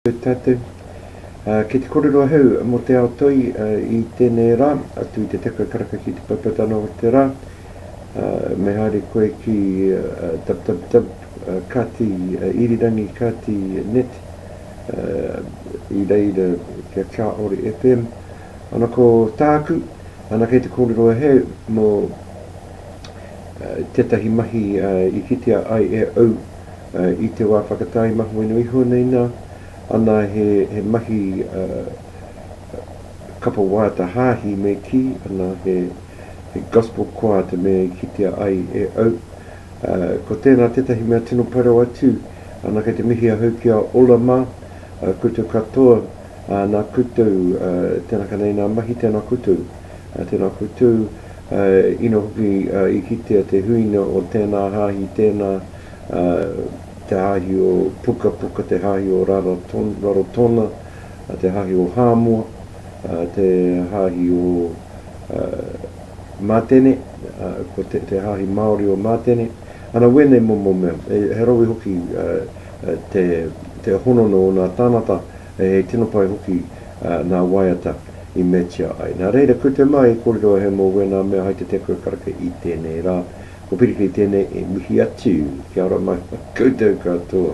Tātou, uh, ki te korero ahau mō te ao toi uh, i tēnei rā, atu i te tekau karaka ki te paipatana o te rā, uh, me haere koe ki uh, www, uh, kati, uh, irirangi kati net, i reira kia Chaori FM ana ko tāku ana kei te kōrero he mō tētahi mahi i kitea ai e au i te wā whakatāi maho ino iho nei nā ana he, he mahi kapa wāta hāhi me kī ana he He Gospel Choir te mea i kitea ai e au. Ko tēnā tētahi mea tino pai rawa atu, ana kei te mihi ahau ki a Ola mā, koutou katoa, nā koutou, tēnā ka nei nā mahi, tēnā koutou, tēnā koutou, ina hoki i kitea te huinga o tēnā hāhi, tēnā, te hāhi o Pukapuka, te hāhi o Rarotonga, te hāhi o Hāmoa. te hāhi o Mātene, ko te hāhi Māori o Mātene, ana wēnei momo mea. He rawe hoki te honono o nā tānata, he tino pai hoki nā waiata i meatia ai. Nā reira, koutou mā i kōrero a Hemo wēnā mea hai te teko e karaka i tēnei rā. Ko Pirikiri tēnei e mihi atu. Kia ora mai koutou katoa.